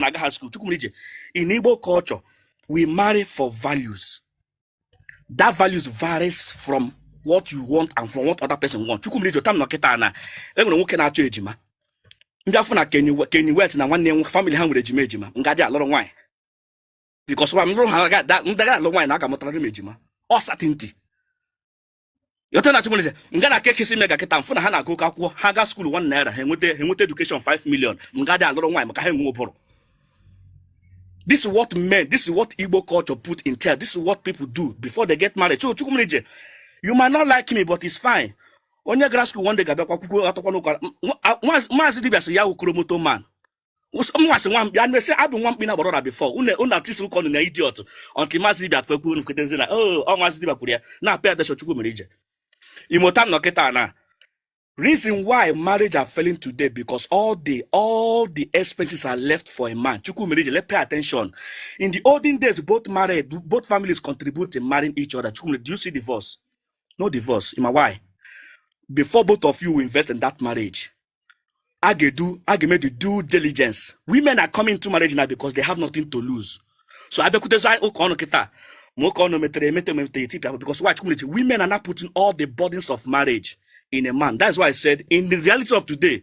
na-aga high school chukwumerije in igbo culture we marry for values that values varies from what you want and from what other person want chukwumerije tam nọ kịta na enwere nwoke na-achọ ejima m bịa fụ na kenny west na nwanne nwoke family ha nwere ejima ejima m ga dị alụrụ nwaanyị because nwa m lụrụ ha ndị gara alụ nwaanyị na a ga-amụtara m ejima ọ certainty ịghọta na chukwumerije nga na kekisi ime ga kịta m fụ na ha na-agụka akwụkwọ ha ga school one naira ha enweta ha enweta education 5 million m ga dị alụrụ nwaanyị maka ha enwe ụbụrụ this is what men this is what igbo culture put in tel this is what people do before they get married so chukwumerije you might not like me but it's fine onye gara school one day ga-abịakwa kwukwo atakwa n'ụka maazị dibia sị ya wụ kromoto man mwasị nwa mkpi anụ ese abụ nwa mkpi na gbọrọ na before unu atwist ụka ọnụ na idiot until maazị dibia fekwu unu feketezi na o ọ maazị dibia kwuru ya now pay attention chukwumerije imota nọ kịta na reason why marriage are failing today because all the all the expenses are left for a man chukwumerije let pay attention in the olden days both married both families contribute in marrying each other chukwumerije do you see divorce no divorce ị ma why before both of you invest in that marriage a ga-edu a ga-eme the due diligence women are coming to marriage now because they have nothing to lose so abịakwutezi anyị ụka ọnụ kịta ma ụka ọnụ metere emete ma emetere etipịa bụ because why chukwumerije women are now putting all the burdens of marriage in a man that's why i said in the reality of today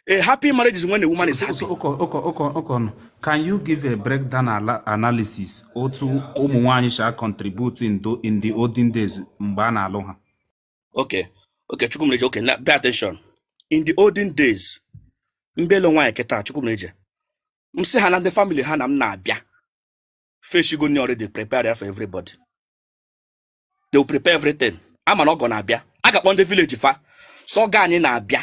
a happy marriage is when a woman is happy ụka ụka ụka ụka ọnụ can you give a breakdown ala- analysis otu ụmụ nwaanyị shi a contribute in, tho- in the olden days mgbe a na-alụ ha okay okay chukwumerije okay now pay attention in the olden days m bịa ịlụ nwaanyị kịta chukwumerije m sị ha na ndị family ha na m na-abịa fa eshigo nni already prepare ya for everybody they will prepare everything a ma na ọgọ na-abịa a ga-akpọ ndị village fa sị ọgọ anyị na-abịa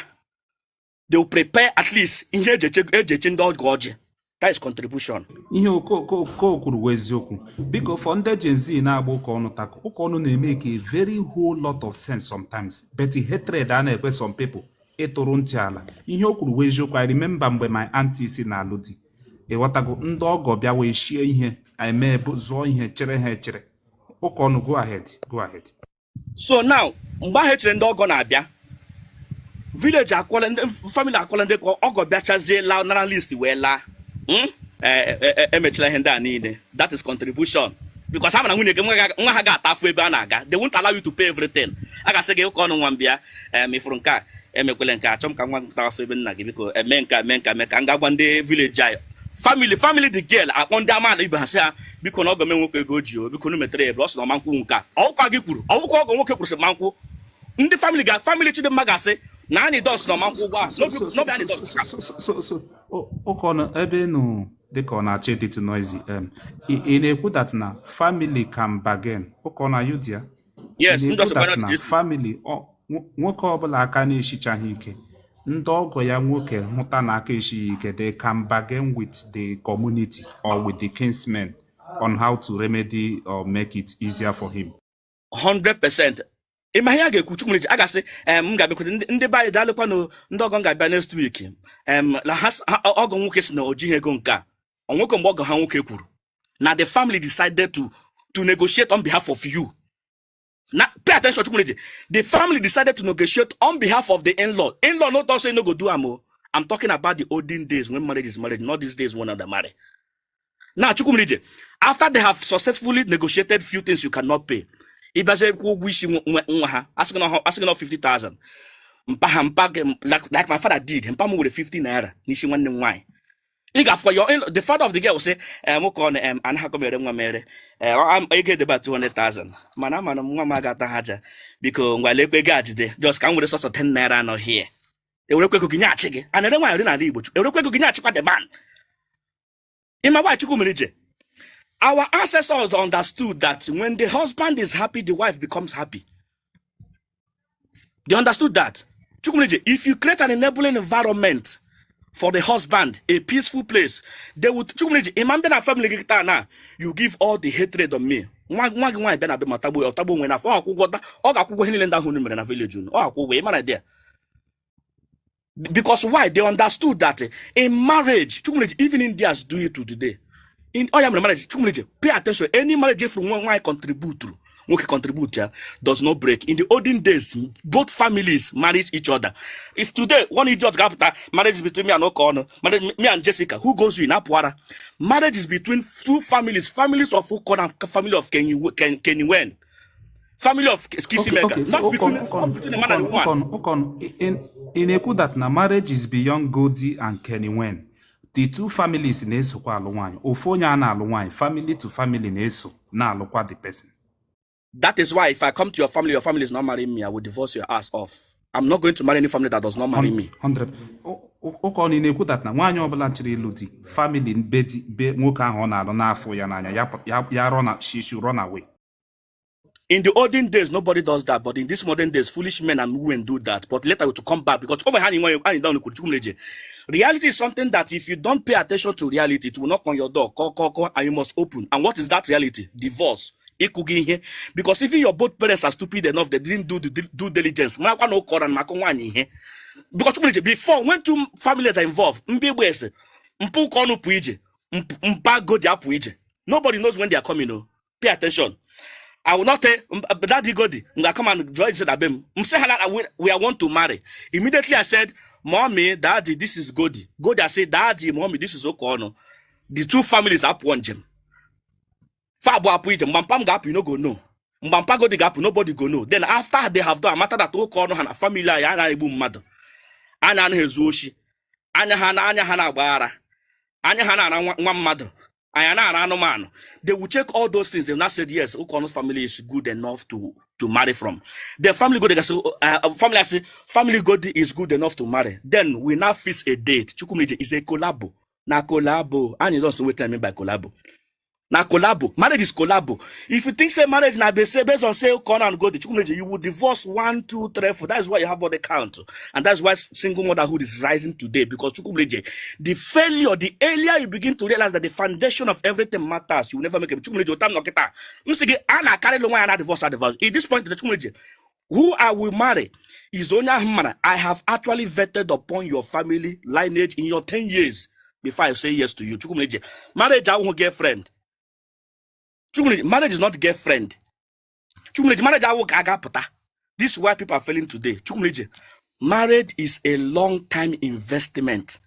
they will prepare at least ihe eji eche eji eche ndị ọgọ ọjị that is contribution ihe ụka ọnụ kwuru wụ eziokwu biko for ndị Gen Z na-agba ụka ọnụ tackle ụka ọnụ na-emake a very whole lot of sense sometimes but hatred a na-ekwe some people ịtụrụ ntị ala ihe o kwuru wụ eziokwu I remember mgbe my auntie si na-alụ di ịghọtago ndị ọgọ bịa wee shie ihe anyị mee bụ zụọ ihe chere ha echere ụka ọnụ go ahead go ahead so now mgbe ahụ echere ndị ọgọ na-abịa village akwụla ndị family akwụla ndị ka ọgọ bịachazie laa nara list wee laa hmm? e, e, e, emechila ihe ndị a niile that is contribution because a ma na nwunye gị nwa ha ga-ata afụ ebe a na-aga they won't allow you to pay everything a ga-asị gị ụka ọnụ nwa m bịa mefụrụ nke a emekwele nke achọ m ka nwa m tawa afụ ebe nna gị biko eme nke mee nke mee ka m ga-agwa ndị village anyị family family the girl akpọ ndị amaala ibe ha sị ha bikonụ ọgọ m nwoke ego ji o bikonụ metere ya ebere ọ sị na ọ ma nkwụ nke a ọ wụkwa gị kwuru ọ wụkwa ọgọ nwoke kwuru sị ma nkwụ ndị famili ga famili chidimma ga-asị na anyị dọs na ọ ma nkwụ ugbu a n'obi anyị dọs ka so so so so o- ụkọnụ ebe ị nọ dịka ọ na-achọ ịdịtụ noisy em, ị ị na-ekwu that na family can bargain ụkọnụ are you there yes ndụ na-ekwu ọsọkwara that na dịsị famili nwoke ọbụla aka na-esichaghị ike ndị ọgọ ya nwoke hụta na aka esighị ike they can bargain with the community or with the kinsmen on how to remedy or make it easier for him 100% ị ma ihe a ga-ekwu chukwumerije a ga-asị em m ga-abịakwute ndị ndị be anyị daalụkwanụ ndị ọgọ m ga-abịa next week em na ha s- ha- ọgọ nwoke sị na o jighị ego nke a o nwekwa mgbe ọgọ ha nwoke kwuru na the family decided to to negotiate on behalf of you now pay attention chukwumerije the family decided to negotiate on behalf of the in-law in-law no talk say no go do am o i'm talking about the olden days when marriage is marriage not these days when una dey marry now chukwumerije after they have successfully negotiated few things you cannot pay ị bịazie kwụ ụgwọ isi nwa ha a sị gị na ọ- a sị gị na ọ 50,000 mpa ha mpa gị m- like like my father did mpa m were 50 naira n'isi nwanne m nwaanyị ị ga-afụkwa your in- the father of the girl sị em ka ọ na em anaghịkwa m ere nwa m ere Eh, ọ- am- ego edeba 200,000 mana amana m nwa m aga ata ha aja biko ngwa lekwa ego a jide just ka m were sọsọ 10 naira a nọ here e werekwa ego gị nyeghachi gị a na-ere nwaanyị n'ala igbo chukwu e werekwa ego gị nyeghachikwa the man ị ma why chukwumerije our ancestors understood that when the husband is happy the wife becomes happy they understood that chukwumerije if you create an enabling environment for the husband a peaceful place they would chukwumerije ị ma m bịa na family gị taa na you give all the hatred on me nwa nwa gị nwaanyị bịa na be m atagbuo ya ọ tagbuo onwe n'afụfụ ọ ga-akwụ ụgwọ ihe niile ndị ahụ unu mere na village unu ọ ga-akwụ ụgwọ ị mara dị ya because why they understood that in marriage chukwumeje even indians do it to today in oya oh, mere marriage chukwumeje pay attention any marriage if nwa nwaanyị contribute nwoke contribute ya does not break in the olden days both families married each other if today one idiot ga-apụta marriage between me and ụka ọnụ me and jessica who goes in apụara marriage is between two families families of ụkọ na family of kenny wen family of kissing mega okay, so ị na-ekwu that na marriage is beyond Goddy and Kenny Wen the two families na-esokwa alụ nwaanyị ofu onye a na-alụ nwaanyị family to family na-eso na-alụkwa the person that is why if I come to your family your family is not marrying me I will divorce your ass off I'm not going to marry any family that does not marry me. 100. ụkọnụ na-ekwu that na nwaanyị ọbụla chọrọ ịlụ di family be di be nwoke ahụ ọ na-alụ afụrọ ya n'anya ya rọ na she should run away. In the olden days, nobody does that, but in these modern days, foolish men and women do that. But later we to come back because over hand in reality is something that if you don't pay attention to reality, it will knock on your door, kọ, kọ, kọ, and you must open. And what is that reality? Divorce. ịkụ gị ihe because even your both parents are stupid enough they didn't do the due diligence marakwa na ụkọra na maka nwaanyị ihe because chukwumije before when two families are involved ndị igbo asị mpa ụkọnụ apụ ije mp- mpa godi apụ ije nobody knows when they are coming o pay attention I will not tell um, uh, Daddy Godi, I'm gonna come and join said Abem. I'm saying that we, we are want to marry. Immediately I said, Mommy, Daddy, this is Godi. Godi, I said, Daddy, Mommy, this is Ụkọnụ. The two families apụọ njem. fa abụọ apụ ije mgba mpa m ga-apụ you no go know mgba mpa godi ga-apụ nobody go know then after they have done amata that ụkọnụ ha na family anyị anaghị egbu mmadụ anyị anaghị ezu oshi anyị anaghị anyị anaghị agba ara anyị anaghị ara nwa nwa mmadụ anyị anaghị ara anụmanụ they will check all those things they will now say yes ụkọnụ family is good enough to to marry from the family godi ga-asị uh, family asị family godi is good enough to marry then we now fix a date chukwumije is a collabo na collabo anyị just wait time by collabo na collabo marriage is collabo if you think say marriage na base based on say corn and gold chukwu meje you will divorce one two three four that's why you have body count and that's why single motherhood is rising today because chukwu meje the failure the earlier you begin to realize that the foundation of everything matters you will never make it chukwu meje otam nọkịta m sị gị a na-akarịlụ nwaanyị na divorce a divorce at this point the chukwu meje who I will marry is onye ahụ mara I have actually vetted upon your family lineage in your 10 years before I say yes to you Chukwumeje marriage awụghị girlfriend Chukwumeje marriage is not girlfriend Chukwumeje marriage awụ ka a ga-apụta this is why people are failing today Chukwumeje marriage is a long time investment